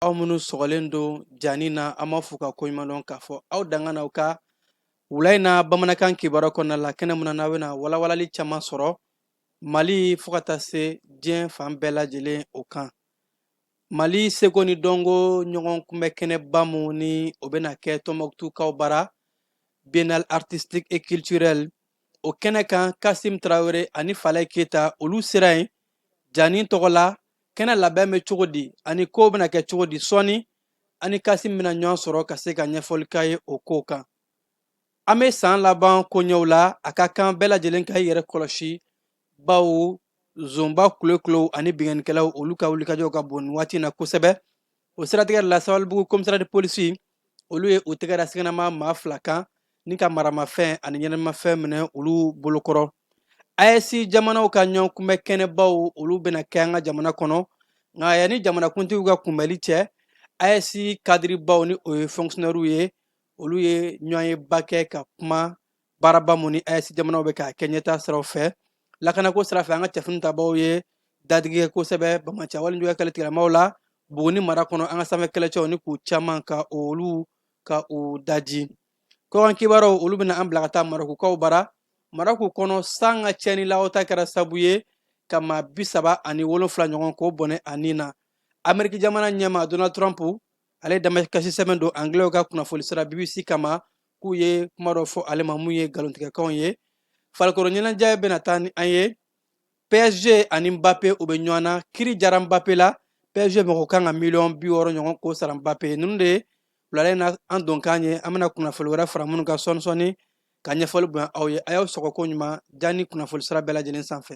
aw minnu sɔgɔlen don jaani na an b'a fo ka koɲumandɔn k'a fɔ aw danga na aw ka wula in na bamanankan kibaruya kɔnɔna la kɛnɛ mun na n'aw bɛna walawalali caman sɔrɔ mali fo ka taa se diɲɛ fan bɛɛ lajɛlen o kan mali seko ni dɔnko ɲɔgɔn kunbɛ kɛnɛba mun ni o bɛna kɛ tɔnbɔkutukaw bara biennale artistique et culturelle o kɛnɛ kan kasim tarawele ani falayi keyita olu sera yen jaani tɔgɔ la kɛnɛ labɛn bɛ cogo di ani kow bɛna kɛ cogo di sɔɔni an ni kasim bɛna ɲɔgɔn sɔrɔ ka se ka ɲɛfɔli k'a ye o kow kan an bɛ san laban koɲɛw la a ka kan bɛɛ lajɛlen ka i yɛrɛ kɔlɔsi bawo zonba kulokulow ani binkannikɛlaw olu ka wulikajɔw ka bon nin waati na kosɛbɛ o siratigɛ la sabalibugu komisariya de polisi olu ye u tɛgɛ da siganama maa fila kan ni ka maramafɛn ani ɲɛnamafɛn minɛ olu bolokɔrɔ aes jamanaw ka ɲɔgɔn kunbɛn kɛnɛbaw olu bɛna kɛ an ka jamana kɔnɔ nka yanni jamanakuntigiw ka kunbɛli cɛ aes kadiribaw ni o ye fɔnkisiyɔnɛriw ye olu ye ɲɔgɔnyeba kɛ ka kuma baaraba mun ni aes jamanaw bɛ k'a kɛ ɲɛtaa siraw fɛ lakanako sira fɛ an ka cɛfini tabaw ye dadigi kɛ kosɛbɛ banbaanci walejuya kɛlɛ tigilamaw la buguni mara kɔnɔ an ka sanfɛ kɛlɛcɛw ni k'u caman ka olu ka u daji kɔkan kibaruyaw olu bɛna an bila ka taa marɔkukaw bara marɔku kɔnɔ san ka cɛnni lawata kɛra sabu ye ka maa bi saba ani wolonfila ɲɔgɔn k'o bɔnɛ a ni na ameriki jamana ɲɛmaa donald trump ale ye damakasi sɛbɛn don angilɛw ka kunnafoni sira bbc kama k'u ye kuma dɔ fɔ ale ma mun ye nkalontigɛkanw ye farikolo ɲɛnajɛ bɛna taa ni an ye psg ani mbappe u bɛ ɲɔgɔn na kiri jara mbappe la psg mɔgɔ kan ka miliyɔn bi wɔɔrɔ ɲɔgɔn k'o sara mbappe ye ninnu de ye wulada in na an donkan ye an bɛna kunnafoli wɛrɛ fara minnu kan sɔɔni sɔɔni ka ɲɛfɔli bonya aw ye a y'aw sɔgɔ koɲuman jaani kunnafoli sira bɛɛ lajɛlen sanfɛ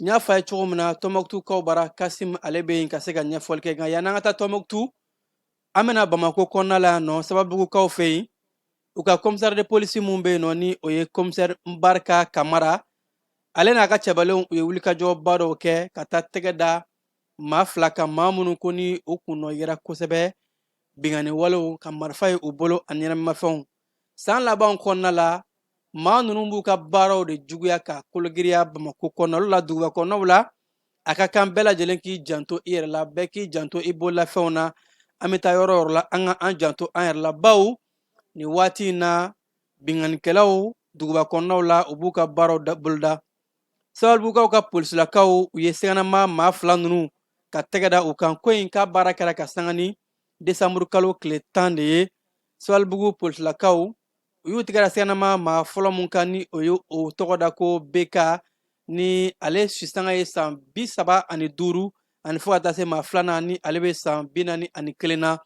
n y'a fɔ a ye cogo min na tɔnbɔkutukaw bara kasim ale bɛ yen ka se ka ɲɛfɔli kɛ nka yan'an ka taa tɔnbɔkutu an bɛna bamako kɔnɔna la yan nɔ sabalibugukaw fɛ yen u ka komisɛri de polisi mun bɛ yen nɔ ni o ye komisɛri nbarika kamara ale n'a ka cɛbalenw u ye wulikajɔba dɔw kɛ ka taa tɛgɛ da maa fila kan maa minnu ko ni u kunnɔ yera kosɛbɛ binkanni walew ka marifa ye u bolo ani ɲɛnamimafɛnw san laban kɔnɔna la maa ninnu b'u ka baaraw de juguya ka kologiriya bamakɔ kɔnɔnaw la duguba kɔnɔnaw la a ka kan bɛɛ lajɛlen k'i janto i yɛrɛ la bɛɛ k'i janto i bololafɛnw na an bɛ taa yɔrɔ o yɔrɔ la an ka an janto an yɛrɛ la baw nin waati in na binkannikɛlaw duguba kɔnɔnaw la u b'u ka baaraw boloda sabalibugukaw ka polisilakaw u ye siganama maa fila ninnu ka tɛgɛ da u kan koyi nka baara kɛra ka sanga ni desanburukalo tile tan de ye sabalibugu polisilakaw u y'u tɛgɛ da siganama maa fɔlɔ min kan ni o ye o tɔgɔ da ko bk ni ale sisanga ye san bi saba ani duuru ani fo ka taa se maa filanan ni ale bɛ san bi naani ani kelen na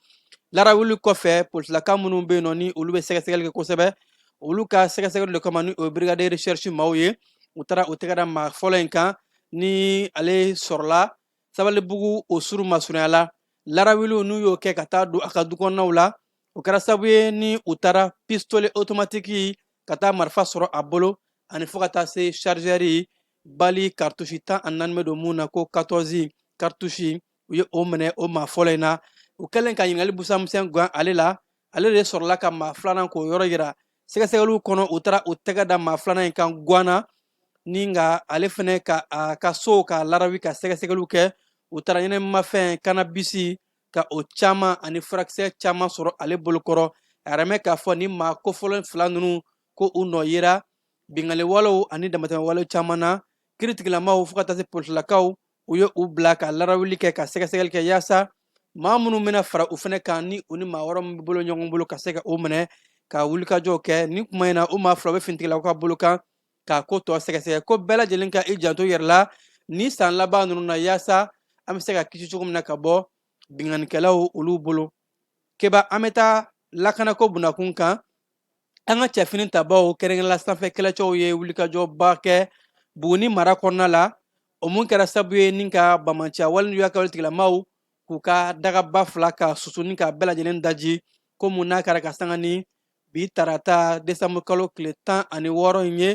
larawuli kɔfɛ polisilakaw minnu bɛ yen nɔ ni olu bɛ sɛgɛsɛgɛli kɛ kosɛbɛ olu ka sɛgɛsɛgɛli de kama ni o ye brigade recherche maaw ye u taara u tɛgɛ da maa fɔlɔ in kan ni ale sɔrɔla sabalibugu o suru masurunya la larawuliw n'u y'o kɛ ka taa don a ka dukɔnɔnaw la o kɛra sabu ye ni u taara pistole otomatiki ka taa marifa sɔrɔ a bolo ani fo ka taa se sharizɛri bali karitusi tan ani naani bɛ don mun na ko katɔzi karitusi u ye o minɛ o maa fɔlɔ in na u kɛlen ka ɲininkali busamisɛn gan ale la ale de sɔrɔla ka maa filanan k'o yɔrɔ yira sɛgɛsɛgɛliw kɔnɔ u taara u tɛgɛ da maa filanan in kan gwana ni nka ale fana ka a ka sow ka larawi ka sɛgɛsɛgɛliw kɛ u taara ɲɛnɛmafɛn kanabisi ka o caman ani furakisɛ caman sɔrɔ ale bolokɔrɔ a yɛrɛmɛ k'a fɔ ni maa kofɔlen fila ninnu ko u nɔ yera binkanniwalew ani damatɛmɛwale caman na kiritigilamaw fo ka taa se polisilakaw u ye u bila ka larawuli kɛ ka sɛgɛsɛgɛli kɛ yaasa maa minnu bɛna fara u fana kan ni u ni maa wɛrɛ min bɛ bolo ɲɔgɔn bolo ka se ka o minɛ ka wulikajɔw kɛ ni kuma in na u maa fila bɛ finitigilakaw ka bolo kan k'a ko tɔ sɛgɛsɛgɛ ko bɛɛ lajɛlen ka i janto yɛrɛ la ni san laban ninnu na yaasa an bɛ se ka kisi cogo min na ka bɔ binkannikɛlaw olu bolo keba an bɛ taa lakanako bunakun kan an ka cɛfini tabaw kɛrɛnkɛrɛnla sanfɛ kɛlɛcɛw ye wulikajɔba kɛ buguni mara kɔnɔna la o mun kɛra sabu ye ni ka bamanciya walejuya ka wale tigilamaw k'u ka dagaba fila ka susu ni ka bɛɛ lajɛlen daji ko mun n'a kɛra ka sanga ni bi tarata desanburukalo tile tan ani wɔɔrɔ in ye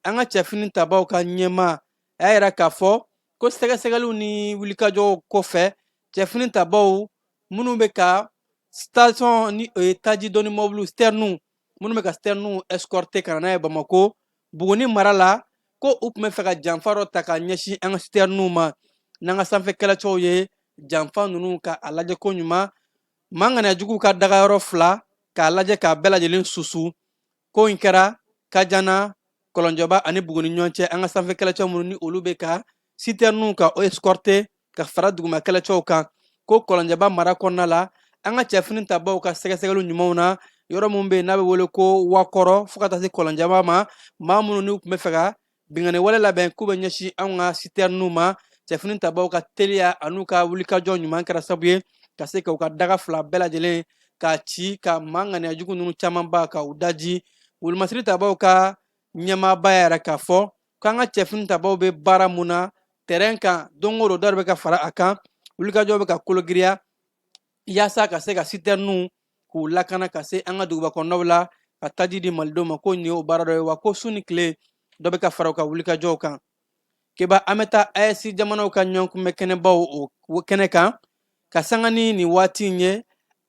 an ka cɛfini tabaw ka ɲɛmaa y'a yira k'a fɔ ko sɛgɛsɛgɛliw ni wulikajɔw kɔfɛ cɛfini tabaw minnu bɛ ka station ni o ye taji doni mɔbiliw sitɛriniw minnu bɛ ka sitɛriniw ɛsikɔrite ka na n'a ye bamako buguni mara la ko u tun bɛ fɛ ka janfa dɔ ta ka ɲɛsin an ka sitɛriniw ma n'an ka sanfɛ kɛlɛcɛw ye janfa ninnu ka a lajɛ ko ɲuman maa ŋaniyajuguw ka dagayɔrɔ fila k'a lajɛ k'a bɛɛ lajɛlen susu ko in kɛra kajana kɔlɔnjɛba ani buguni ɲɔgɔn cɛ an ka sanfɛ kɛlɛcɛ minnu ni olu bɛ ka sitɛriniw ka o escorte ka fara duguma kɛlɛcɛw kan ko kɔlɔnjɛba mara kɔnɔna la an ka cɛfini tabaw ka sɛgɛsɛgɛliw ɲumanw na yɔrɔ minnu bɛ yen n'a bɛ wele ko wakɔrɔ fo ka taa se kɔlɔnjɛba ma maa minnu n'u tun bɛ fɛ ka binkanni wale labɛn k'u bɛ ɲɛsin anw ka sitɛriniw ma cɛfini tabaaw ka teliya an'u ka wulikajɔ ɲuman kɛra sabu ye ka se ka u ka daga fila bɛɛ lajɛlen ka ci ka maa ŋaniya jugu ninnu camanba ka u daji wolomasiri tabaaw ka ɲɛmaaba y'a yira k'a fɔ k'an ka cɛfini tabaaw bɛ baara mun na tɛrɛn kan don o don dɔ de bɛ ka fara a kan wulikajɔw bɛ ka kologiriya yaasa ka se ka sitɛriniw k'u lakana ka se an ka duguba kɔnɔnaw la ka taji di malidenw ma ko nin y'o baara dɔ ye wa ko su ni tile dɔ bɛ ka fara u ka wulikajɔw kan keba an bɛ taa AES jamanaw ka ɲɔgɔn kunbɛn kɛnɛbaw o kɛnɛ kan ka sanga ni nin waati in ye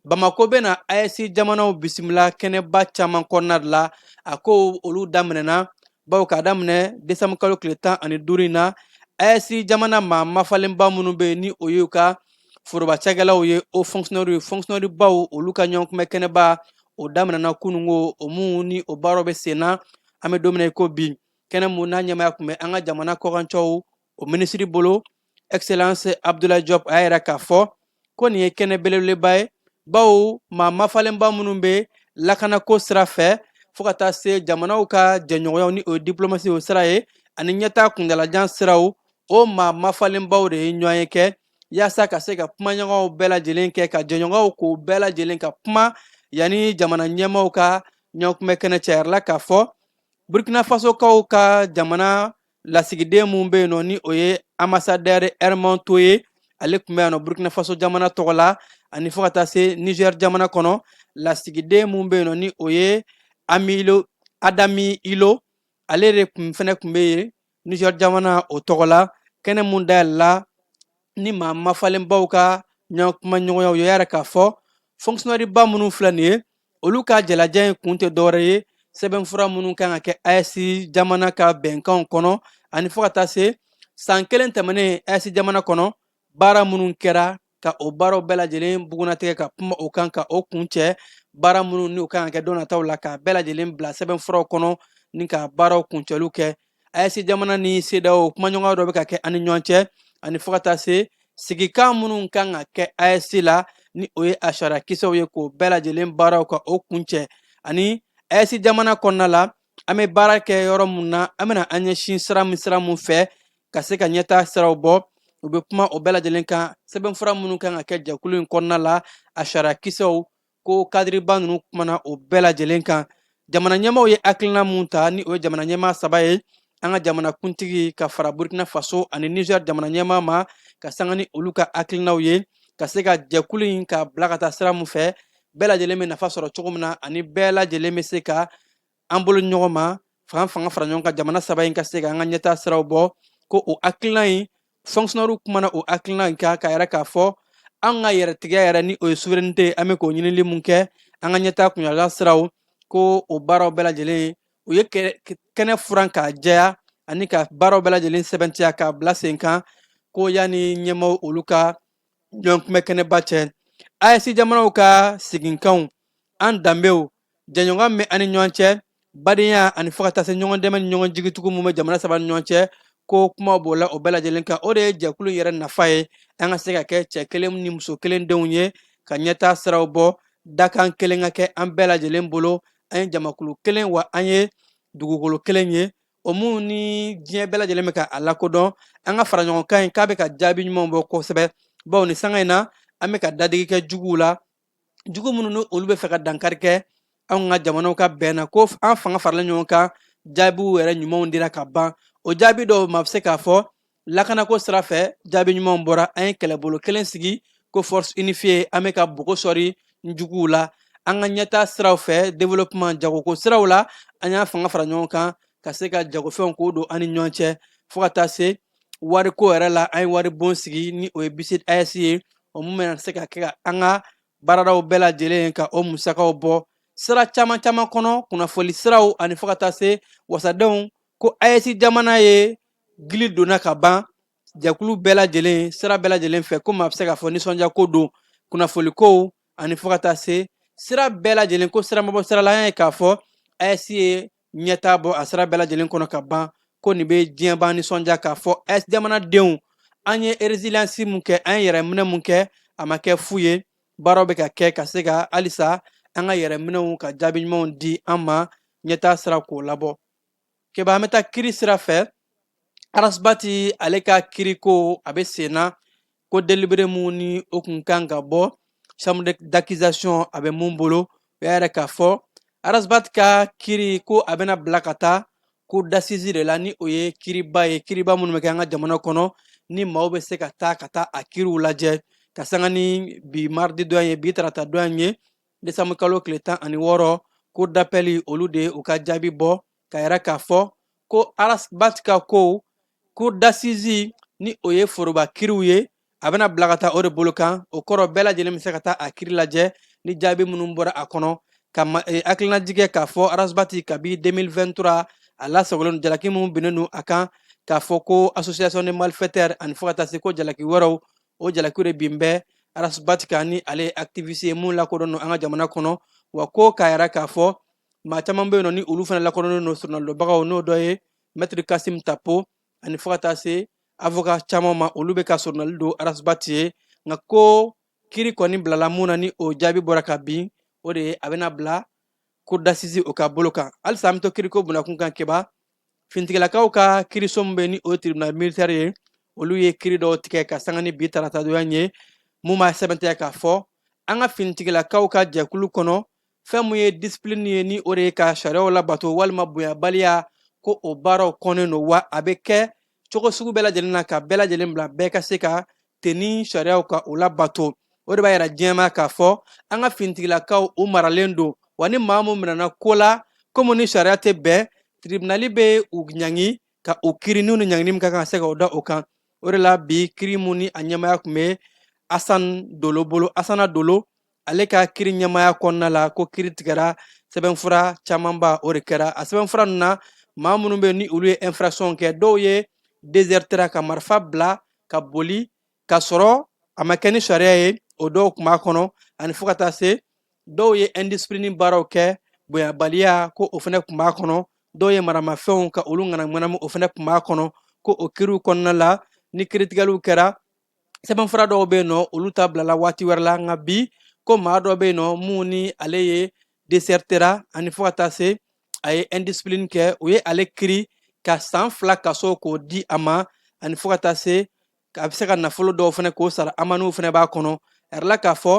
bamako bɛ na AES jamanaw bisimila kɛnɛba caman kɔnɔna de la a ko olu daminɛna bawo k'a daminɛ desanburukalo tile tan ani duuru in na AES jamana maa mafalenba minnu bɛ yen ni o y'u ka forobacakɛlaw ye o fonctionnaire baw olu ka ɲɔgɔn kunbɛn kɛnɛba o daminɛna kunun ko o mun ni o baaraw bɛ sen na an bɛ don min na i ko bi kɛnɛ mun n'a ɲɛmaya tun bɛ an ka jamana kɔkancɛw o minisiri bolo excellence Abdoulaye Diop a y'a yira k'a fɔ ko nin ye kɛnɛ belebeleba ye bawo maa mafalenba minnu bɛ lakanako sira fɛ fo ka taa se jamanaw ka jɛɲɔgɔnyaw ni o ye diplomasi o sira ye ani ɲɛtaa kuntaalajan siraw o maa mafalenbaw de ye ɲɔgɔn ye kɛ yaasa ka se ka kumaɲɔgɔnw bɛɛ lajɛlen kɛ ka jɛɲɔgɔnw k'o bɛɛ lajɛlen ka kuma yanni jamana ɲɛmaaw ka ɲɔgɔnkunbɛn kɛnɛ cɛ a yirala k'a fɔ burkina fasokaw ka jamana lasigiden min bɛ yen nɔ ni o ye ambassadeur Hermann Toé ye ale tun bɛ yan nɔ burkina faso jamana tɔgɔ la ani fo ka taa se niger jamana kɔnɔ lasigiden min bɛ yen nɔ ni o ye Adani Illo ale de fana tun bɛ yen Niger jamana o tɔgɔ la kɛnɛ mun dayɛlɛla ni maa mafalenbaw ka ɲɔgɔn kuma ɲɔgɔnyaw ye a yira k'a fɔ fonctionnaire ba minnu filɛ nin ye olu ka jamalajɛ in kun tɛ dɔwɛrɛ ye sɛbɛnfura minnu kan ka kɛ AES jamana ka bɛnkanw kɔnɔ ani fo ka taa se san kelen tɛmɛnen AES jamana kɔnɔ baara minnu kɛra ka o baaraw bɛɛ lajɛlen bugunnatigɛ ka kuma o kan ka o kuncɛ baara minnu ni o kan ka kɛ don nataw la k'a bɛɛ lajɛlen bila sɛbɛnfuraw kɔnɔ ni ka baaraw kuncɛliw kɛ AES jamana ni CEDEAO kumaɲɔgɔnya dɔ bɛ ka kɛ ani ɲɔgɔn cɛ ani fo ka taa se sigikan minnu kan ka kɛ AES la ni o ye a sariya kisɛw ye k'o bɛɛ lajɛlen baaraw ka o kuncɛ ani AES jamana kɔnɔna la an bɛ baara kɛ yɔrɔ mun na an bɛna an ɲɛsin sira min sira mun fɛ ka se ka ɲɛtaa siraw bɔ u bɛ kuma o bɛɛ lajɛlen kan sɛbɛnfura minnu kan ka kɛ jɛkulu in kɔnɔna la a sariya kisɛw ko kadiriba ninnu kumana o bɛɛ lajɛlen kan jamana ɲɛmaaw ye hakilina mun ta ni o ye jamana ɲɛmaa saba ye an ka jamana kuntigi ka fara burkina faso ani niger jamana ɲɛmaa ma ka sanga ni olu ka hakilinaw ye ka se ka jɛkulu in ka bila ka taa sira mun fɛ bɛɛ lajɛlen bɛ nafa sɔrɔ cogo min na ani bɛɛ lajɛlen bɛ se ka an bolo ɲɔgɔn ma fanga fanga fara ɲɔgɔn kan jamana saba in ka se ka an ka ɲɛtaa siraw bɔ ko o hakilina in fonctionnairew kumana o hakilina in kan k'a yira k'a fɔ an ka yɛrɛtigiya yɛrɛ ni o ye souveraineté an bɛ k'o ɲinili mun kɛ an ka ɲɛtaa kunyala siraw ko o baaraw bɛɛ lajɛlen u ye kɛnɛ furan k'a jɛya ani ka baaraw bɛɛ lajɛlen sɛmɛntiya k'a bila sen kan ko yanni ɲɛmaaw olu ka ɲɔgɔn kunbɛn kɛnɛba cɛ AES jamanaw ka siginkanw an danbew jɛɲɔgɔn bɛ an ni ɲɔgɔn cɛ badenya ani fo ka taa se ɲɔgɔn dɛmɛ ni ɲɔgɔn jigitugu min bɛ jamana saba ni ɲɔgɔn cɛ ko kuma b'o la o bɛɛ lajɛlen kan o de ye jɛkulu yɛrɛ nafa ye an ka se ka kɛ cɛ kelen ni muso kelen denw ye ka ɲɛtaa siraw bɔ dakan kelen ka kɛ an bɛɛ lajɛlen bolo an ye jamakulu kelen wa an ye dugukolo kelen ye o min ni diɲɛ bɛɛ lajɛlen bɛ ka a lakodɔn an ka fara ɲɔgɔn kan in k'a bɛ ka jaabi ɲumanw bɔ kosɛbɛ bawo ni sanga in na an bɛ ka dadigi kɛ juguw la jugu minnu ni olu bɛ fɛ ka dankari kɛ anw ka jamanaw ka bɛn na ko an fanga farala ɲɔgɔn kan jaabiw yɛrɛ ɲumanw dira ka ban o jaabi dɔw maa bɛ se k'a fɔ lakanako sira fɛ jaabi ɲumanw bɔra an ye kɛlɛbolo kelen sigi ko force unifiée an bɛ ka bogo sɔri juguw la an ka ɲɛtaa siraw fɛ développement jagoko siraw la an y'an fanga fara ɲɔgɔn kan ka se ka jagofɛnw k'o don an ni ɲɔgɔn cɛ fo ka taa se wariko yɛrɛ la an ye waribon sigi ni o ye BCID AES ye o min bɛna se ka kɛ ka an ka baaradaw bɛɛ lajɛlen ka o musakaw bɔ sira caman caman kɔnɔ kunnafoli siraw ani fo ka taa se wasadenw ko AES jamana ye gili donna ka ban jɛkulu bɛɛ lajɛlen sira bɛɛ lajɛlen fɛ ko maa bɛ se k'a fɔ nisɔndiyako don kunnafolikow ani fo ka taa se sira bɛɛ lajɛlen ko siramabɔ sira la an y'a ye k'a fɔ AES ye ɲɛtaa bɔ a sira bɛɛ lajɛlen kɔnɔ ka ban ko nin bɛ diɲɛban nisɔndiya k'a fɔ AES jamanadenw an ye résilience mun kɛ an ye yɛrɛminɛ mun kɛ a ma kɛ fu ye baaraw bɛ ka kɛ ka se ka halisa an ka yɛrɛminɛw ka jaabi ɲumanw di an ma ɲɛtaa sira k'o labɔ keba an bɛ taa kiri sira fɛ Ras Bath ale ka kiriko a bɛ sen na ko délibéré min ni o tun kan ka bɔ chambre d'accusation a bɛ min bolo o y'a yira k'a fɔ Ras Bath ka kiri ko a bɛna bila ka taa cour d'assises de la ni o ye kiriba ye kiriba minnu bɛ kɛ an ka jamana kɔnɔ ni maaw bɛ se ka taa ka taa a kiriw lajɛ ka sanga ni bi mardi don ye bi tarata don ye décembre kalo tile tan ani wɔɔrɔ cour d'appel olu de y'u ka jaabi bɔ k'a yira k'a fɔ ko Ras Bath ka ko cour d'assises ni o ye foroba kiriw ye a bɛna bila ka taa o de bolo kan o kɔrɔ bɛɛ lajɛlen bɛ se ka taa a kiri lajɛ ni jaabi minnu bɔra a kɔnɔ ka eh, hakilinajigin k'a fɔ Ras Bath kabi 2023 a lasagolen don jalaki minnu binnen don a kan k'a fɔ ko association de malfaiteurs ani fo ka taa se ko jalaki wɛrɛw o jalakiw de bin bɛ Ras Bath kan ni ale ye activiste ye mun lakodɔn don an ka jamana kɔnɔ wa ko k'a yira k'a fɔ maa caman bɛ yen nɔ ni olu fana lakodɔnnen don sɔrɔnadonbagaw n'o dɔ ye mɛtiri kasim tapo ani fo ka taa se avoka caman ma olu bɛ ka sɔrɔnali don arasibati ye nka ko kiri kɔni bilala mun na ni o jaabi bɔra ka bin o de ye a bɛna bila cour d'assises o ka bolo kan halisa an bɛ to kiriko bunda kunkan keba fintigilakaw ka kiriso min bɛ ni o ye tribunal militaire ye olu ye kiri dɔw tigɛ ka sanga ni bi taratadon in ye mun b'a sɛmɛntiya k'a fɔ an ka finitigilakaw ka jɛkulu kɔnɔ fɛn mun ye disipilini ye ni o de ye ka sariyaw labato walima bonyabaliya ko o baaraw kɔnnen don wa a bɛ kɛ cogo sugu bɛɛ lajɛlen na ka bɛɛ lajɛlen bila bɛɛ ka se ka tenin sariyaw ka o labato o de b'a yira diɲɛ ma k'a fɔ an ka finitigilakaw u maralen don wa ni maa mun minɛna ko la ko mun ni sariya tɛ bɛn tiribinali bɛ u ɲangi ka u kiri n'u ni ɲangini min ka kan ka se ka o da o kan o de la bi kiri mun ni a ɲɛmaaya tun bɛ asan dolo bolo asana dolo ale ka kiri ɲɛmaaya kɔnɔna la ko kiri tigɛra sɛbɛnfura camanba o de kɛra a sɛbɛnfura ninnu na maa minnu bɛ ni olu ye infraction kɛ dɔw ye desertera ka marifa bila ka boli k'a sɔrɔ a ma kɛ ni sariya ye o dɔw tun b'a kɔnɔ ani fo ka taa se dɔw ye indisipilini baaraw kɛ bonyabaliya ko o fana tun b'a kɔnɔ dɔw ye maramafɛnw ka olu ŋanamuŋanamu o fana tun b'a kɔnɔ ko o kiriw kɔnɔna la ni kiritigɛliw kɛra sɛbɛnfura dɔw bɛ yen nɔ olu ta bilala waati wɛrɛ la nka bi ko maa dɔ bɛ yen nɔ mun ni ale ye desertera ani fo ka taa se a ye indiscipline kɛ u ye ale kiri ka san fila kaso k'o di a ma ani fo ka taa se a bɛ se ka nafolo dɔw fana k'o sara amaniw fana b'a kɔnɔ a yirala k'a fɔ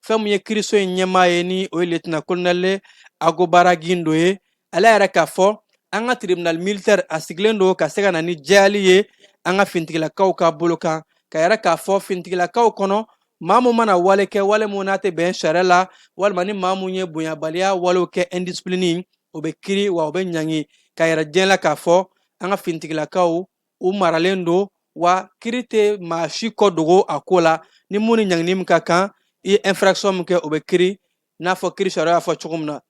fɛn min ye kiriso in ɲɛmaa ye ni o ye liyetinan kolonɛli ogobara gindo ye ale y'a yira k'a fɔ an ka tribunal militaire a sigilen don ka se ka na ni jɛyali ye an ka fintigilakaw ka bolo kan k'a yira k'a fɔ fintigilakaw kɔnɔ maa min mana wale kɛ wale min n'a tɛ bɛn sariya la walima ni maa min ye bonyabaliya walew kɛ indisipilini o bɛ kiri wa o bɛ ɲangi k'a yira diɲɛ la k'a fɔ an ka fintigilakaw u maralen don wa kiri tɛ maa si kɔ dogo a ko la ni mun ni ɲangini min ka kan i ye infraction min kɛ o bɛ kiri n'a fɔ kiri sariya y'a fɔ cogo min na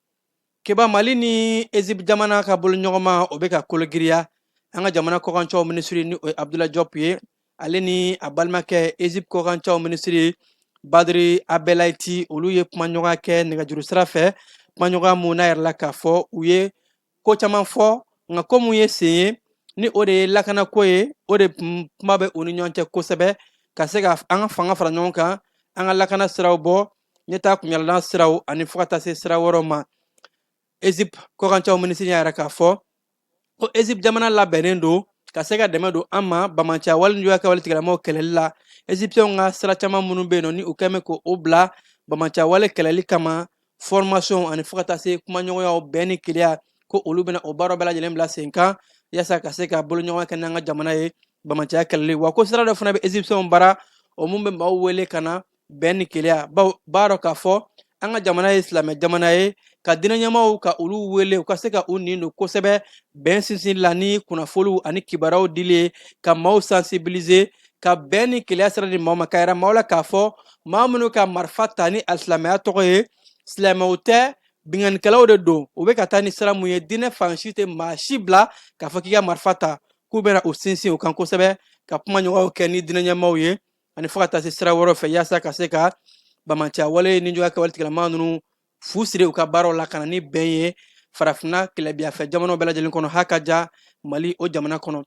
keba mali ni ezip jamana ka bolodiɲɔgɔnma o bɛ ka kologiriya an ka jamana kɔkancɛw minisiri ni o ye abdulayi jɔp ye ale ni a balimakɛ ezip kɔkancɛw minisiri badiri abdɛlati olu ye kumaɲɔgɔnya kɛ nɛgɛjuru sira fɛ kumaɲɔgɔnya mun n'a yirala k'a fɔ u ye ko caman fɔ nka ko mun ye sen ye ni o de ye lakanako ye o de kuma bɛ u ni ɲɔgɔn cɛ kosɛbɛ ka se ka an ka fanga fara ɲɔgɔn kan an ka lakana siraw bɔ ɲɛtaa kunyalan siraw ani fo ka taa se sira wɛrɛw ma ezip kɔkancɛw minisiri y'a yira k'a fɔ ko ezip jamana labɛnnen don ka se ka dɛmɛ don an ma banbaanciya walejuguya kɛwale tigilamɔgɔw kɛlɛli la ezipsiyɛnw ka sira caman minnu bɛ yen nɔ ni u tun bɛ k'o bila banbaanciya wale kɛlɛli kama formation ani fo ka taa se kumaɲɔgɔnyaw bɛn ni kelenya ko olu bɛna o baara bɛɛ lajɛlen bila sen kan yaasa ka se ka boloɲɔgɔnma kɛ n'an ka jamana ye bamanciya kɛlɛli wa ko sira dɔ fana bɛ ezipsiyɛnw bara o mun bɛ maaw wele ka na bɛn ni kelenya bawo b'a dɔn k'a fɔ an ka jamana ye silamɛ jamana ye ka diinɛ ɲɛmaaw ka olu wele u ka se ka u nin don kosɛbɛ bɛn sinsin la ni kunnafoliw ani kibaruyaw dili ye ka maaw sensibiliser ka bɛn ni kelenya sira di maaw ma ka yira maaw la k'a fɔ maa minnu ka marifa ta ni alisilamɛya tɔgɔ ye silamɛw tɛ binkanikɛlaw de don u bɛ ka taa ni sira mun ye diinɛ fan si tɛ maa si bila k'a fɔ k'i ka marifa ta k'u bɛna u sinsin u kan kosɛbɛ ka kuma ɲɔgɔnw kɛ ni diinɛ ɲɛmaaw ye ani fo ka taa se sira wɛrɛw fɛ yaasa ka se ka bamanciya wale ni juguya kɛwale tigilama ninnu fu siri u ka baaraw la ka na ni bɛn ye farafinna tilebin yanfɛ jamanaw bɛɛ lajɛlen kɔnɔ ha ka ja mali o jamana kɔnɔ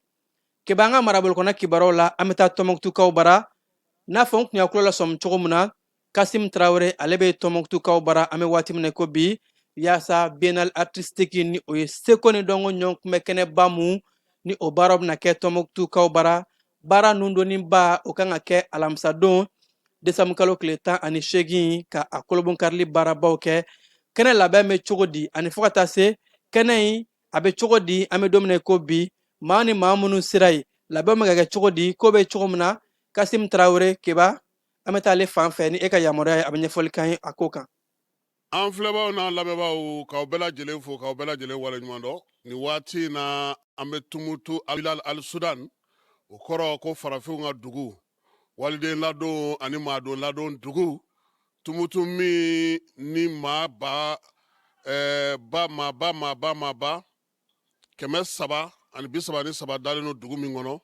keba an ka marabolo kɔnɔ kibaruyaw la an bɛ taa tɔnmɔkutukaw bara n'a fɔ n tun y'a tulo lasɔmi cogo min na kasim tarawele ale bɛ tɔnmɔkutukaw bara an bɛ waati min na ko bi yaasa biennale artistique ni o ye seko ni dɔnko ɲɔgɔn kunbɛn kɛnɛba mun ni o baaraw bɛna kɛ tɔnmɔkutukaw bara baara nun donniba o kan ka kɛ alamisadon desanbu kalo tile tan ani seegin ka a kolobon karili baarabaw kɛ kɛnɛ labɛn bɛ cogo di ani fo ka taa se kɛnɛ in a bɛ cogo di an bɛ don min na ko bi maa ni maa minnu sera yen labɛn bɛ ka kɛ cogo di ko bɛ cogo min na kasim tarawele keba an bɛ taa ale fan fɛ ni e ka yamaruya ye a bɛ ɲɛfɔli k'an ye a ko kan an filɛbaw n'an lamɛnbaaw k'aw bɛɛ lajɛlen fo k'aw bɛɛ lajɛlen waleɲuman dɔn nin waati in na an bɛ tumutu al sudan o kɔrɔ ko farafinw ka dugu waliden ladon ani maaden ladon dugu Tumutu min ni maaba kɛmɛ saba ani bi saba ni saba dalen don dugu min kɔnɔ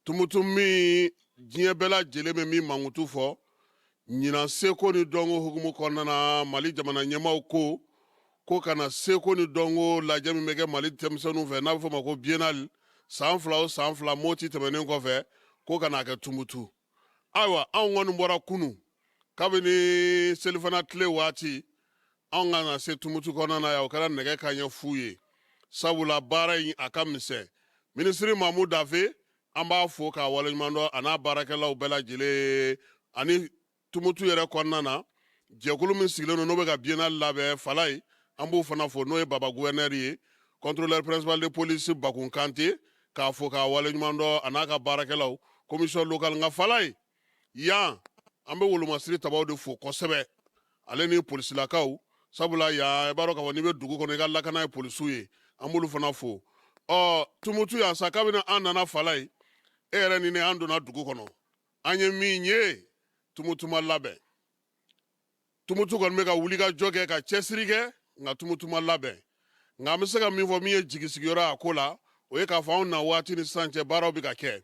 tumutu min diɲɛ bɛɛ lajɛlen bɛ min mankutu fɔ ɲinan seko ni dɔnko hukumu kɔnɔna na mali jamana ɲɛmaaw ko ka na seko ni dɔnko lajɛ min bɛ kɛ mali denmisɛnninw fɛ n'a bɛ fɔ ma ko biennale san fila o san fila moti tɛmɛnen kɔfɛ ko ka na a kɛ tumutu ayiwa anw kɔni bɔra kunu kabini selifana tile waati anw ka na se tumutu kɔnɔna na yan o kɛra nɛgɛ kanɲɛ fu ye sabula baara in a ka misɛn minisiri mamu dafe an b'a fo k'a waleɲuman dɔn a n'a baarakɛlaw bɛɛ lajɛlen ani tumutu yɛrɛ kɔnɔna na jɛkulu min sigilen don n'o bɛ ka biennale labɛn falaye an b'o fana fo n'o ye baba gouverneur ye contrôleur principal de police bakun kante k'a fo k'a waleɲuman dɔn a n'a ka baarakɛlaw commission locale nka falaye yan an bɛ wolomasiri tabaw de fo kosɛbɛ ale ni polisilakaw sabula yan i b'a dɔn k'a fɔ n'i bɛ dugu kɔnɔ i ka lakana ye polisiw ye an b'olu fana fo ɔ tumutu yan sa kabini an nana falaye e yɛrɛ ni ne an donna dugu kɔnɔ an ye min ye tumutu ma labɛn tumutu kɔni bɛ ka wuli ka jɔ kɛ ka cɛsiri kɛ nka tumutu ma labɛn nka an bɛ se ka min fɔ min ye jigisigiyɔrɔ a ko la o ye k'a fɔ anw na waati ni sisan cɛ baaraw bɛ ka kɛ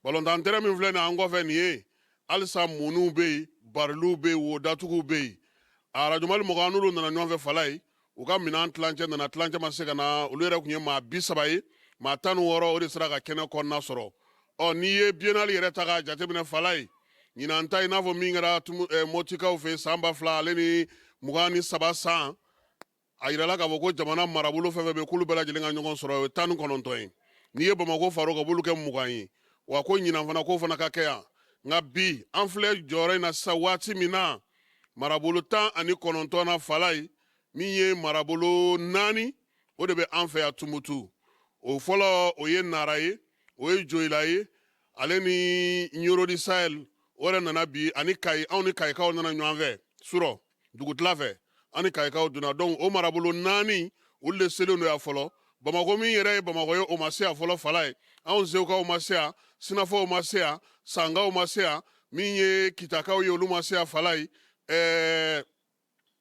balontan tɛrɛn min filɛ nin an kɔfɛ nin ye halisa muniw bɛ yen bariliw bɛ yen wo datuguw bɛ yen arajo mali mɔgɔ an n'olu nana ɲɔgɔn fɛ falaye u ka minɛn tilancɛ nana tilancɛ ma se ka na olu yɛrɛ tun ye maa bi saba ye maa tan ni wɔɔrɔ o de sera ka kɛnɛ kɔnɔna sɔrɔ ɔ n'i ye biennale yɛrɛ ta k'a jateminɛ falaye ɲinan ta i n'a fɔ min kɛra eh, motikaw fɛ san ba fila ale ni mugan ni saba san a yirala k'a fɔ ko jamana marabolo fɛn fɛn bɛ k'olu bɛɛ lajɛlen ka ɲɔgɔn sɔrɔ o ye tan ni kɔnɔntɔn ye n'i ye bamako fara o kan b'olu kɛ mugan ye wa ko ɲinan fana k'o fana ka kɛ yan nka bi an filɛ jɔyɔrɔ in na sisan waati min na marabolo tan ani kɔnɔntɔn na falaye min ye marabolo naani o de bɛ an fɛ yan tumutu o fɔlɔ o ye nara ye o ye joyila ye ale ni ɲoro du sahel o yɛrɛ nana bi ani kayi anw ni kayikaw nana ɲɔgɔn fɛ surɔ dugutila fɛ an ni kayikaw donna donc o marabolo naani olu de selen don yan fɔlɔ bamakɔ min yɛrɛ ye bamakɔ ye o ma se yan fɔlɔ falaye anw segukaw ma se yan sinafɔw ma se yan sankaw ma se yan min ye kitakaw ye olu ma se yan falaye ɛɛ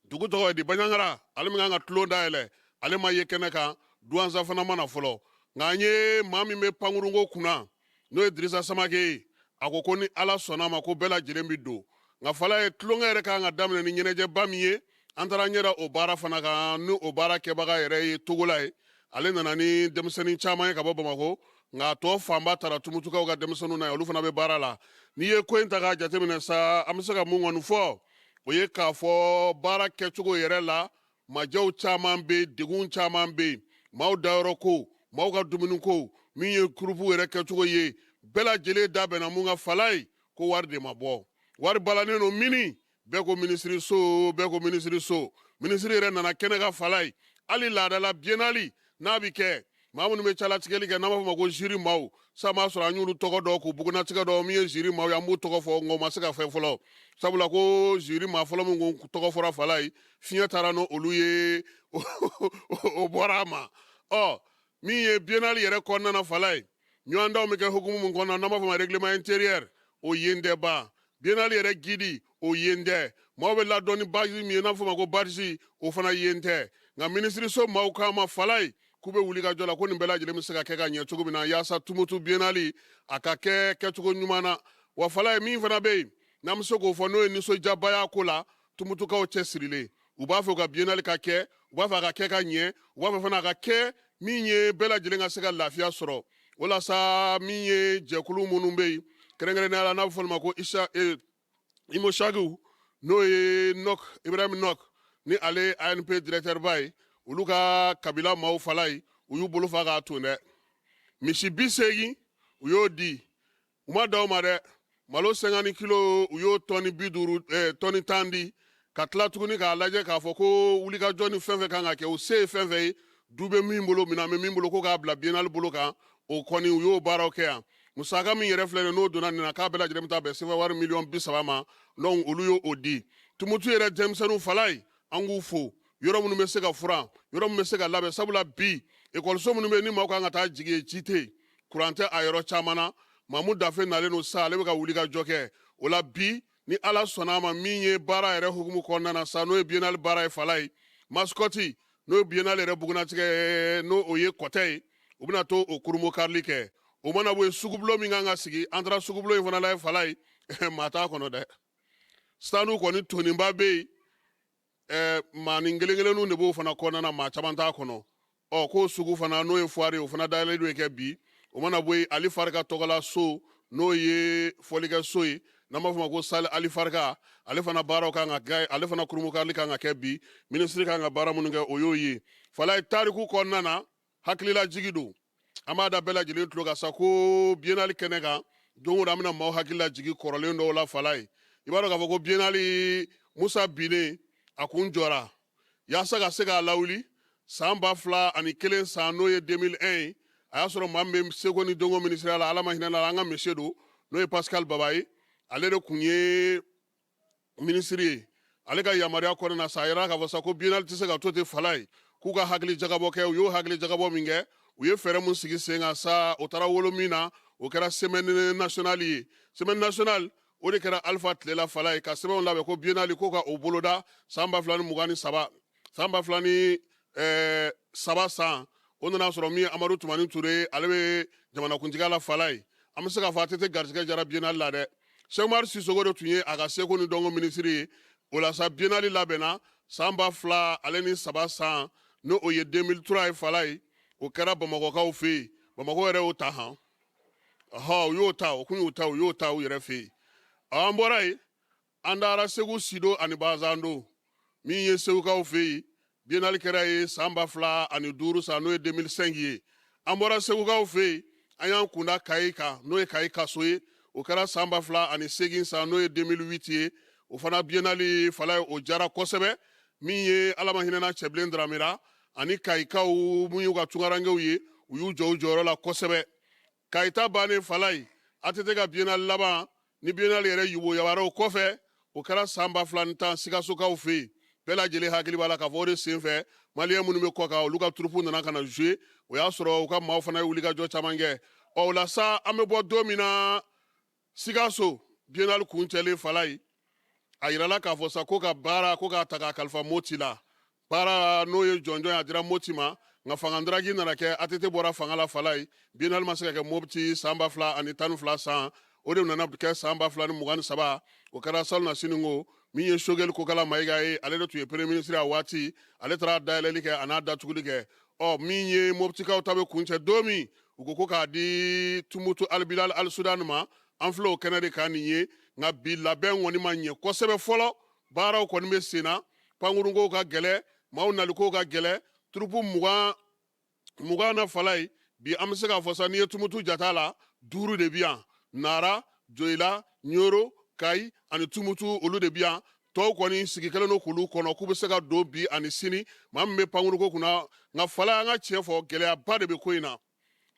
dugu tɔgɔ ye di baɲagara ale min kan ka tulon dayɛlɛ ale ma ye kɛnɛ kan duwanza fana ma na fɔlɔ nka an ye maa min bɛ pankurunko kunna n'o ye dirisa samake ye a ko ko ni ala sɔnna a ma ko bɛɛ lajɛlen bɛ don nka falaye tulonkɛ yɛrɛ kan ka daminɛ ni ɲɛnajɛba min ye an taara ɲɛ da o baara fana kan ni o baara kɛbaga yɛrɛ ye togola ye ale nana ni denmisɛnnin caman ye ka bɔ bamakɔ nka a tɔ fanba tara tumutukaw ka denmisɛnninw na ye olu fana bɛ baara la n'i ye ko in ta k'a jateminɛ sa an bɛ se ka mun kɔni fɔ o ye k'a fɔ baara kɛcogo yɛrɛ la Majɛw caman bɛ yen, degun caman bɛ yen, maaw dayɔrɔ ko, maaw ka dumuni ko, min ye kurupuw yɛrɛ kɛcogo ye, bɛɛ lajɛlen da bɛnna mun kan Falaye ko wari de ma bɔ. Wari balannen don mini, bɛɛ ko minisiriso, bɛɛ ko minisiriso. Minisiri yɛrɛ nana kɛnɛ kan Falaye, hali laadala biennale n'a bɛ kɛ, maa minnu bɛ jalatigɛli kɛ n'an b'a fɔ ma ko ziri maaw sa m'a sɔrɔ an y'olu tɔgɔ dɔn k'u bugunnatigɛ dɔn min ye ziri maaw ye an b'u tɔgɔ fɔ nka u ma se ka fɛn fɔlɔ sabula ko ziri maa fɔlɔ min ko tɔgɔ fɔra falaye fiɲɛ taara n'olu ye o bɔra a ma ɔ min ye biennale yɛrɛ kɔnɔna na falaye ɲɔgɔndanw bɛ kɛ hukumu min kɔnɔna n'an b'a fɔ ma règlement intérieur o yen tɛ ban biennale yɛrɛ gidi o yen tɛ maaw bɛ ladon ni bazi min ye n'a fɔ ma ko barisi o fana yen tɛ nka minisiriso maaw k'an ma falaye k'u bɛ wulikajɔ la ko nin bɛɛ lajɛlen bɛ se ka kɛ ka ɲɛ cogo min na yaasa tumutu biennale a ka kɛ kɛcogo ɲuman na wa falaye min fana bɛ yen n'an bɛ se k'o fɔ n'o ye nisɔndiyaba y'a ko la tumutukaw cɛsirilen u b'a fɛ u ka biennale ka kɛ u b'a fɛ a ka kɛ ka ɲɛ u b'a fɛ fana a ka kɛ min ye bɛɛ lajɛlen ka se ka lafiya sɔrɔ walasa min ye jɛkulu minnu bɛ yen kɛrɛnkɛrɛnnenya la n'a bɛ fɔ ma ko isa e, imushagiw n'o ye nɔk ibrahim nɔk ni ale anp directɛrba ye olu ka kabila maaw falayi u y'u bolo fa k'a ton dɛ misi bi seegin u y'o di u ma dan o ma dɛ malo cinquante kilo u y'o tɔni bi duuru eh, tɔni tan di ka tila tuguni k'a lajɛ k'a fɔ ko wulikajɔ ni fɛn fɛn kan ka kɛ u se ye fɛn fɛn ye du bɛ min bolo minɛn bɛ min bolo ko k'a bila biennale bolo kan o kɔni u y'o baaraw kɛ yan musaka min yɛrɛ filɛ n'o donna nin na k'a bɛɛ lajɛlen bɛ taa bɛn sefa wari miliyɔn bi saba ma donc olu ye o di tumutu yɛrɛ denmisɛnninw falayi an k'u fo yɔrɔ minnu bɛ se ka furan yɔrɔ minnu bɛ se ka labɛn sabula bi ekɔliso minnu bɛ yen ni maaw kan ka taa jigin yen ji tɛ yen kuran tɛ a yɔrɔ caman na mamu dafe nalen don sa ale bɛ ka wulikajɔ kɛ o la bi ni ala sɔnna a ma min ye baara yɛrɛ hukumu kɔnɔna na sa n'o ye biennale baara ye falayi masikɔti n'o ye biennale yɛrɛ bugunnatigɛ n'o o ye kɔtɛ ye u bɛna taa o kurunbonkarili kɛ o mana bɔ yen sugubulo min kan ka sigi an taara sugubulo in fana lajɛ falayi maa t'a kɔnɔ dɛ standw kɔni tonnenba bɛ yen ɛɛ maa ni kelen kelenninw de b'o fana kɔnɔna na maa caman t'a kɔnɔ ɔ k'o sugu fana n'o ye fuwari ye o fana dayɛlɛlen don kɛ bi o mana bɔ yen ali farika tɔgɔla so n'o ye fɔlikɛ so ye n'an b'a fɔ ma ko sali ali farika ale fana baaraw kan ka kɛ ale fana kurunbonkarili kan ka kɛ bi minisiri kan ka baara minnu kɛ o y'o ye falayi tariku kɔnɔna na hakililajigi don an b'a da bɛɛ lajɛlen tulo kan sa ko biennale kɛnɛ kan don o don an bɛna maaw hakililajigin kɔrɔlen dɔw la falayi i b'a dɔn k'a fɔ ko biennale musa binnen a kun jɔra yaasa ka se k'a lawuli san ba fila ani kelen san n'o ye 2001 ye a y'a sɔrɔ maa min bɛ seko ni dɔnko minisiriya la ala ma hinɛ la an ka mese don n'o ye pascal baba ye ale de kun ye minisiri ye ale ka yamaruya kɔnɔna na sa a yirala k'a fɔ sa ko biennale tɛ se ka to ten falayi k'u ka hakilijagabɔ kɛ u y'o hakilijagabɔ min kɛ u ye fɛɛrɛ min sigi sen kan sa o taara wolo min na o kɛra semaine nationale ye semaine nationale o de kɛra alpha tile la falayi ka sɛbɛnw labɛn ko biennale ko ka o boloda san ba fila ni mugan ni saba san ba fila ni eh, saba san o nana sɔrɔ min ye amadu tumani ture ale bɛ jamanakuntigiya la falayi an bɛ se k'a fɔ att garisigɛ jara biennale la dɛ sɛki umaru sisɔkɔ de tun ye a ka seko ni dɔnko minisiri ye o la sa biennale labɛnna san ba fila ale ni saba san n'o o ye 2003 ye falayi o kɛra bamakɔkaw fɛ yen bamakɔ yɛrɛ y'o ta han ɔhɔ u y'o ta o kun y'o ta u y'o ta u yɛrɛ fɛ yen an bɔra yen An taara segu sido ani balanzando min ye segukaw fɛ yen biennale kɛra yen san ba fila ani duuru san n'o ye deux mille cinq ye an bɔra segukaw fɛ yen an y'an kunda kayi kan n'o ye kayi kaso ye o kɛra san ba fila ani segin san n'o ye deux mille huit ye o fana biennale fala ye o jara kosɛbɛ min ye ala ma hinɛna cɛbilen dramera ani kayikaw minnu y'u ka tunkarankew ye u y'u jɔ u jɔyɔrɔ la kosɛbɛ kayi ta bannen fala ye atete ka biennale laban ni biennale yɛrɛ yuguyabaaraw kɔfɛ o kɛra san ba fila ni tan sikasokaw fɛ yen bɛɛ lajɛlen hakili b'a la k'a fɔ o de senfɛ maliyɛn minnu bɛ kɔkan olu ka turupu nana ka na jouer o y'a sɔrɔ u ka maaw fana ye wulikajɔ caman kɛ ɔ o la sa an bɛ bɔ don min na sikaso biennale kuncɛlen fala ye a yirala k'a fɔ sa ko ka baara ko k'a ta k'a kalifa moti la baara n'o ye jɔnjɔn ye a dira moti ma nka fangadaraki nana kɛ atete bɔra fanga la fala ye biennale ma se ka kɛ mopti san ba fila ani tan ni fila san o de nana kɛ san ba fila ni mugan ni saba o kɛra salonnasini ko min ye sogɛli kokala mayiga ye ale de tun ye premier ministre a waati ale taara dayɛlɛli kɛ a n'a datuguli kɛ ɔ min ye moptikaw ta bɛ kuncɛ don min u ko ko k'a di tumutu albilal alisudan ma an filɛ o kɛnɛ de kan nin ye nka bi labɛn kɔni ma ɲɛ kosɛbɛ fɔlɔ baaraw kɔni bɛ sen na pankurunkow ka gɛlɛ maaw nalikow ka gɛlɛ turupu mugan na fala ye bi an bɛ se k'a fɔ sa n'i ye tumutu jate a la duuru de bi yan nara joyila nyoro kayi ani tumutu olu de bi yan tɔw kɔni sigi kɛlen don k'olu kɔnɔ k'u bɛ se ka don bi ani sini maa min bɛ pankurunko kunna nka fala an ka tiɲɛ fɔ gɛlɛyaba de bɛ ko in na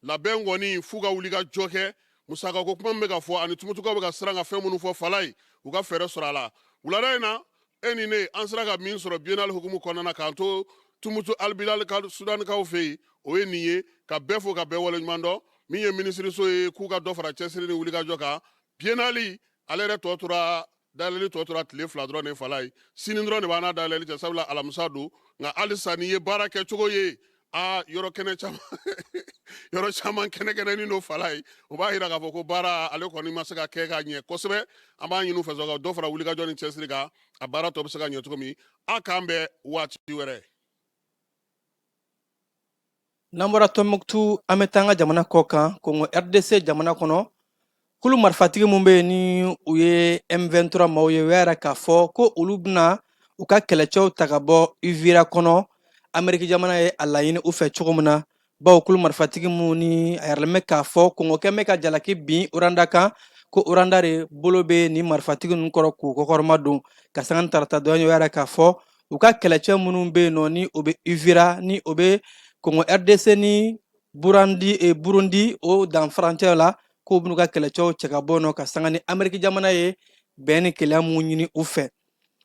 labɛn kɔni f'u ka wulikajɔ kɛ musakako kuma min bɛ ka fɔ ani tumutukaw bɛ ka siran ka fɛn minnu fɔ fala ye u ka fɛɛrɛ sɔrɔ a la wulada in na e ni ne an sera ka min sɔrɔ biennale hukumu kɔnɔna na k'an to tumutu albilal sudanikaw fɛ yen o ye nin ye ka bɛɛ fo ka bɛɛ waleɲuman dɔn min ye minisiriso ye k'u ka dɔ fara cɛsiri ni wulikajɔ kan biennale ale yɛrɛ tɔ tora dayɛlɛli tɔ tora tile fila dɔrɔn de fala ye sini dɔrɔn de b'an n'a dayɛlɛli cɛ sabula alamisa don nka halisa n'i ye baara kɛ cogo ye aa yɔrɔ kɛnɛ caman yɔrɔ caman kɛnɛkɛnɛnin don fala ye o b'a yira k'a fɔ ko baara ale kɔni ma se ka kɛ ka ɲɛ kosɛbɛ an b'a ɲini u fɛ ka dɔ fara wulikajɔ ni cɛsiri kan a baara tɔ bɛ se ka ɲɛ cogo min a k'an bɛn waati wɛrɛ N'an bɔra Tɔnbukutu, an bɛ taa an ka jamana kɔ kan, Kongo RDC jamana kɔnɔ, kulu marifatigi minnu bɛ yen ni u ye M23 maaw ye, u y'a yira k'a fɔ ko olu bɛna u ka kɛlɛcɛw ta ka bɔ Uvira kɔnɔ, Ameriki jamana ye a laɲini u fɛ cogo min na, bawo kulu marifatigi minnu ni a yiralen bɛ k'a fɔ Kongo kɛlen bɛ ka jalaki bin Rwanda kan, ko Rwanda de bolo bɛ nin marifatigi ninnu kɔrɔ k'u kɔkɔrɔmadon. Ka sanga ni tarata donya ye, u y'a yira k'a fɔ u ka kɛlɛcɛ minnu bɛ yen nɔ ni o bɛ uvira ni o bɛ kɔngɔ rdc ni burandi e, burundi o dan furancɛ la k'u b'u ka kɛlɛcɛw cɛ ka bɔ nɔ ka sanga ni ameriki jamana ye bɛn ni kelenya mun ɲini u fɛ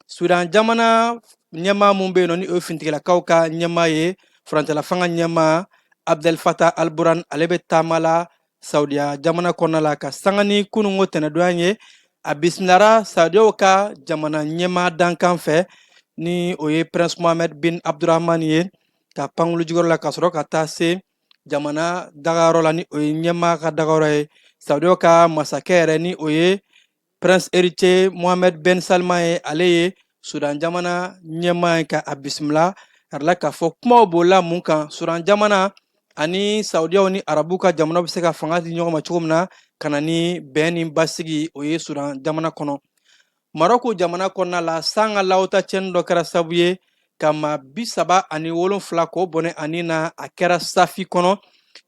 sudan jamana ɲɛmaa mun bɛ yen nɔ ni o ye finitigilakaw ka ɲɛmaa ye furancɛlafanga ɲɛmaa abdel fattah al-burhan ale bɛ taama la saudiya jamana kɔnɔna la ka sanga ni kununko tɛnɛndonya ye a bisimilara saudiyaw ka jamana ɲɛmaa dankan fɛ ni o ye prince mohammed bin abdurahman ye ka pankulu jiginyɔrɔ la ka sɔrɔ ka taa se jamana dagayɔrɔ la ni o ye ɲɛmaa ka dagayɔrɔ ye saudiyaw ka masakɛ yɛrɛ ni o ye prince héritier mohamed ben salman ye ale ye sudan jamana ɲɛmaa ye ka a bisimila a yirala k'a fɔ kumaw bolila mun kan sudan jamana ani saudiyaw ni arabu ka jamanaw bɛ se ka fanga di ɲɔgɔn ma cogo min na ka na ni bɛn ni basigi o ye sudan jamana kɔnɔ marɔku jamana kɔnɔna la san ka lawota cɛnni dɔ kɛra sabu ye ka maa bi saba ani wolonfila k'o bɔnɛ a ni na a kɛra safi kɔnɔ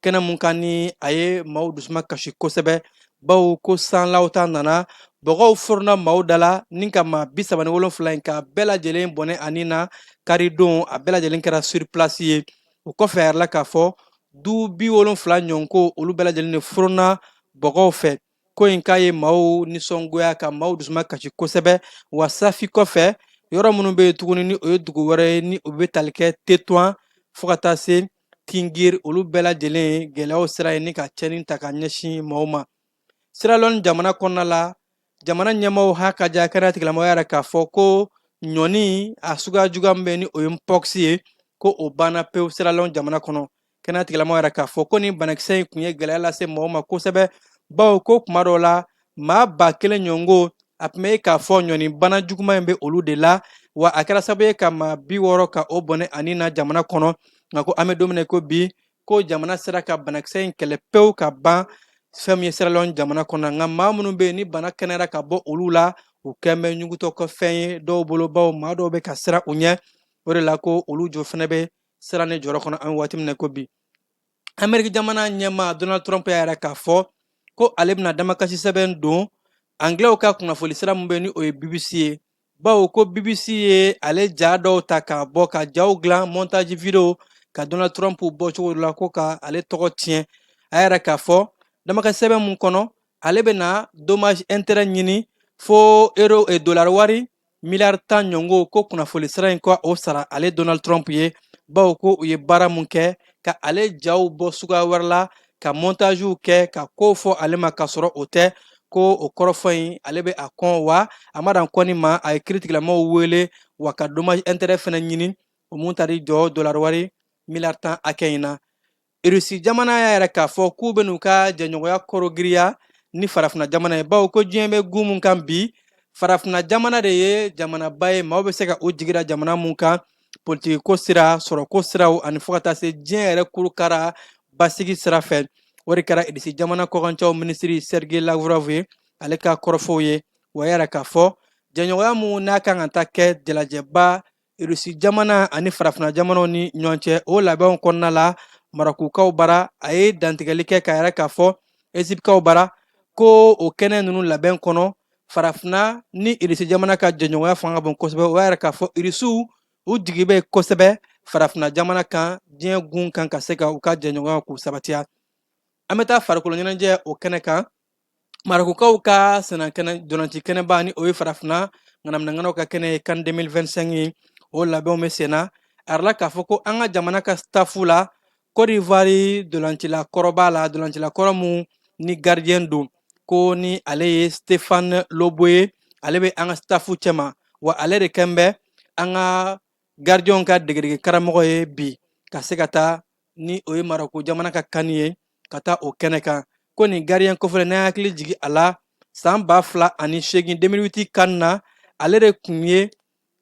kɛnɛ mun kan ni a ye maaw dusuma kasi kosɛbɛ bawo ko sanlaw ta nana bɔgɔw forona maaw da la ni ka maa bi saba ni wolonfila in k'a bɛɛ lajɛlen bɔnɛ a ni na karidon a bɛɛ lajɛlen kɛra sur place ye o kɔfɛ a yirala k'a fɔ du bi wolonfila ɲɔgɔn ko olu bɛɛ lajɛlen de forona bɔgɔw fɛ ko in k'a ye maaw nisɔngoya ka maaw dusuma kasi kosɛbɛ wa safi kɔfɛ yɔrɔ minnu bɛ yen tuguni ni o ye dugu wɛrɛ ye ni o bɛ tali kɛ tetouan fo ka taa se tinghir olu bɛɛ lajɛlen na gɛlɛyaw sera yen ni ka cɛnni ta ka ɲɛsin maaw ma siralɔn jamana kɔnɔna la jamana ɲɛmaaw ha ka ja kɛnɛya tigilamɔgɔ y'a yira k'a fɔ ko ɲɔni a suguya juguman min bɛ ni o ye mpox ye ko o banna pewu siralɔn jamana kɔnɔ kɛnɛya tigilamɔgɔ y'a yira k'a fɔ ko nin banakisɛ in tun ye gɛlɛya lase mɔgɔw ma kosɛbɛ bawo ko tuma dɔw la maa ba kelen ɲɔgɔn ko a tun bɛ k'a fɔ ɲɔni bana juguman in bɛ olu de la wa a kɛra sababu ye ka maa bi wɔɔrɔ ka o bɔnɛ a ni na jamana kɔnɔ nka ko an bɛ don min na ko bi ko jamana sera ka banakisɛ in kɛlɛ pewu ka ban fɛn min ye siralɔn jamana kɔnɔ nka maa minnu bɛ yen ni bana kɛnɛyara ka bɔ olu la u kɛn bɛ ɲugutɔ ka fɛn ye dɔw bolo bawo maa dɔw bɛ ka siran u ɲɛ o de la ko olu jo fana bɛ siran ni jɔrɔ kɔnɔ an bɛ waati min na ko bi ameriki jamana ɲɛmaa donald trump y'a yira k'a fɔ ko ale bɛna damakasi sɛbɛn don anglɛw ka kunnafoni sira min bɛ ni o ye bbc ye bawo ko bbc ye ale ja dɔw ta k'a bɔ ka jaw dilan montage video ka donald trump bɔ cogo dɔ la ko ka ale tɔgɔ tiɲɛ a y'a yira k'a fɔ damakasi sɛbɛn min kɔnɔ ale bɛna dommage intérêt ɲini fo euro e dolari wari miliyari tan ɲɔgɔn ko kunnafoni sira in ka o sara ale donald trump ye bawo ko u ye baara mun kɛ ka ale jaw bɔ suguya wɛrɛ la ka montagew kɛ ka kow fɔ ale ma k'a sɔrɔ o tɛ ko o kɔrɔfɔ in ale bɛ a kɔn wa a ma dan kɔnni ma a ye kiritigilamaw wele wa ka dommage intérêt fana ɲini o mun tari jɔ dolari wari miliyari tan hakɛ in na irisi jamana y'a yira k'a fɔ k'u bɛ n'u ka jɛɲɔgɔnya korogiriya ni farafina jamana ye bawo ko diɲɛ bɛ gun mun kan bi farafina jamana de ye jamanaba ye maaw bɛ se ka u jigi da jamana mun kan politikiko sira sɔrɔko siraw ani fo ka taa se diɲɛ yɛrɛ kurukara basigi sira fɛ o de kɛra irisi jamana kɔkancɛw minisiri sergei lavrov ye ale ka kɔrɔfɔw ye o y'a yira k'a fɔ jɛɲɔgɔnya mun n'a kan ka taa kɛ jalajɛba Irisi jamana ani farafinna jamanaw ni ɲɔgɔn cɛ o labɛnw kɔnɔna la marɔkukaw bara a ye dantigɛli kɛ k'a yira k'a fɔ ezipkaw bara ko o kɛnɛ ninnu labɛn kɔnɔ farafinna ni irisi jamana ka jɛɲɔgɔnya fanga ka bon kosɛbɛ u y'a yira k'a fɔ irisiw u jigi bɛ kosɛbɛ farafinna jamana kan diɲɛ gun kan ka se ka u ka jɛɲɔgɔnyaw k'u sabatiya an bɛ taa farikolo ɲɛnajɛ o kɛnɛ kan marɔkukaw ka sennandolaci kɛnɛba ni o ye farafinna ŋanaminɛŋanaw ka kɛnɛ ye kan 2025 ye o labɛnw bɛ senna a yirala k'a fɔ ko an ka jamana ka stafu la Côte d'Ivoire dolacila kɔrɔ b'a la dolacila kɔrɔ min ni gardien don ko ni ale ye Stéphane Loboué ye ale bɛ an ka stafu cɛma wa ale de kɛn bɛ an ka gardienw ka degedege karamɔgɔ ye bi ka se ka taa ni o ye marɔku jamana ka kani ye ka taa o kɛnɛ kan ko nin gardien kofɔlen n'an hakili jigi a la san ba fila ani seegin 2008 kan na ale de tun ye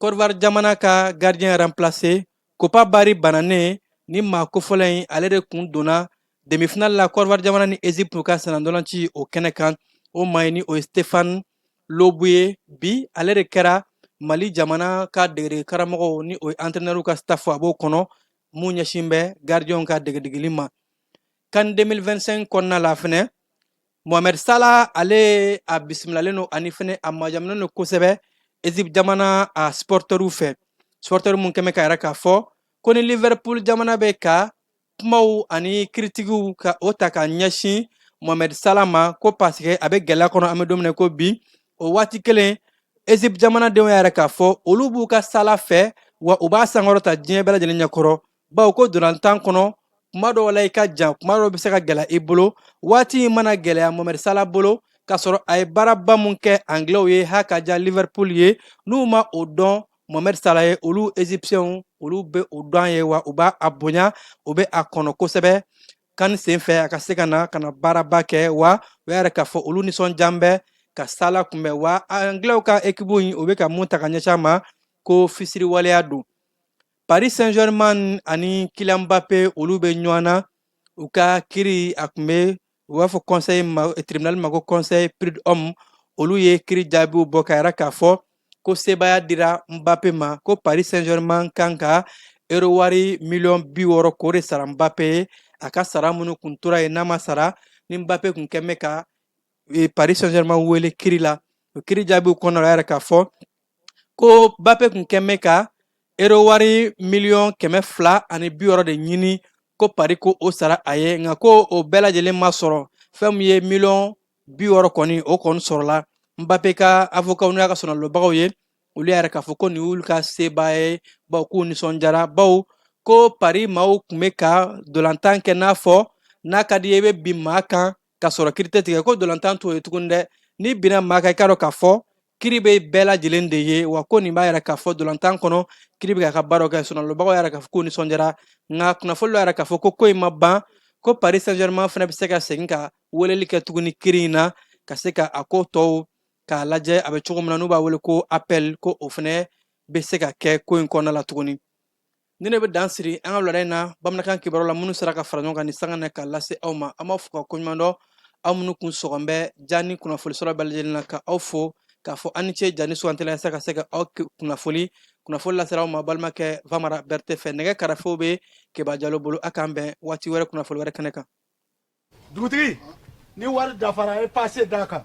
Côte d'Ivoire jamana ka gardien ranplase kopa bari bananen ni maa kofɔlen in ale de kun donna demifinali la Côte d'Ivoire jamana ni ezipu ka sennandolaci o kɛnɛ kan o maa in ni o ye stefan loboué ye bi ale de kɛra mali jamana ka degedege karamɔgɔw ni o ye antrenɛriw ka stafu a b'o kɔnɔ mun ɲɛsin bɛ gardienw ka degedegeli ma kan 2025 kɔnɔna la fana mohamed sala ale a bisimilalen don ani fana a majamunen don kosɛbɛ ezip jamana a supporteriw fɛ supporteriw minnu kɛn bɛ k'a yira k'a fɔ ko ni liverpool jamana bɛ ka kumaw ani kiritikiw ka o ta ka ɲɛsin mohamed sala ma ko paseke a bɛ gɛlɛya kɔnɔ an bɛ don min na ko bi o waati kelen ezip jamanadenw y'a yira k'a fɔ olu b'u ka sala fɛ wa u b'a sankɔrɔta diɲɛ bɛɛ lajɛlen ɲɛkɔrɔ bawo ko dolantan kɔnɔ kuma dɔw la i ka jan kuma dɔw bɛ se ka gɛlɛya i bolo waati in mana gɛlɛya mohamed sala bolo k'a sɔrɔ a ye baaraba min kɛ anglɛw ye ha ka diya liverpool ye n'u ma o dɔn mohamed sala ye olu egyptiɛnw olu bɛ o dɔn ye wa u b'a a bonya u bɛ a kanu kosɛbɛ kan senfɛ a ka se ka na ka na baaraba kɛ wa u y'a yira k'a fɔ olu nisɔndiyalen bɛ ka sala kunbɛn wa anglɛw ka ekipu in o bɛ ka mun ta ka ɲɛsin a ma ko fisiriwaleya don paris saint germain ani kylian mbappe olu bɛ ɲɔgɔn na u ka kiri a tun bɛ u b'a fɔ conseil tribunal ma ko conseil prud'homme olu ye kiri jaabiw bɔ k'a yira k'a fɔ ko sebaaya dira Mbappe ma ko Paris Saint-Germain kan ka euro wari miliyɔn bi wɔɔrɔ k'o de sara Mbappe ye a ka sara minnu kun tora yen n'a ma sara ni Mbappe kun kɛn bɛ ka e, Paris Saint-Germain wele kiri la o kiri jaabiw kɔnɔ la y'a yira k'a fɔ ko Mbappe kun kɛn bɛ ka euro wari miliyɔn kɛmɛ fila ani bi wɔɔrɔ de ɲini ko pari ko o sara a ye nka ko o bɛɛ lajɛlen ma sɔrɔ fɛn min ye miliyɔn bi wɔɔrɔ kɔni o kɔni sɔrɔla mbappe ka avokaw n'u y'a ka sɔnalobagaw ye olu y'a yira k'a fɔ ko nin y'olu ka seba ye bawo k'u nisɔndiyara bawo ko pari maaw tun bɛ ka dolantan kɛ n'a fɔ n'a ka d'i ye i bɛ bin maa kan ka sɔrɔ kiri tɛ tigɛ ko dolantan t'o ye tuguni dɛ n'i binna maa kan i k'a dɔn k'a fɔ kiri bɛ bɛɛ lajɛlen de ye wa ko nin b'a yira k'a fɔ dolantan kɔnɔ kiri bɛ k'a ka baaraw kɛ sɔnalobagaw y'a yira k'a fɔ k'u nisɔndiyara nka kunnafoni y'a yira k'a fɔ ko ko in ma ban ko paris saint germain fana bɛ se ka segin ka weleli kɛ tuguni kiri in na ka se ka a ko tɔw k'a lajɛ a bɛ cogo min na n'u b'a wele ko appel ko o fana bɛ se ka kɛ ko in kɔnɔna la tuguni Nin de bɛ dan siri an ka wulada in na bamanankan kibaru la minnu sera ka fara ɲɔgɔn kan nin sanga na k'a lase aw ma an b'aw fo k'aw koɲumandɔn aw minnu kun sɔgɔn bɛ jan in kunnafoni sɔrɔ bɛɛ lajɛlen na ka aw fo k'a fɔ aw ni ce jan in sugandili la yasa ka se ka aw kunnafoni kunnafoni lasera aw ma balimakɛ famara berete fɛ nɛgɛ karafew bɛ keba jalo bolo a k'an bɛn waati wɛrɛ kunnafoni wɛrɛ kɛnɛ kan dugutigi ni wari dafara ye pase d'a kan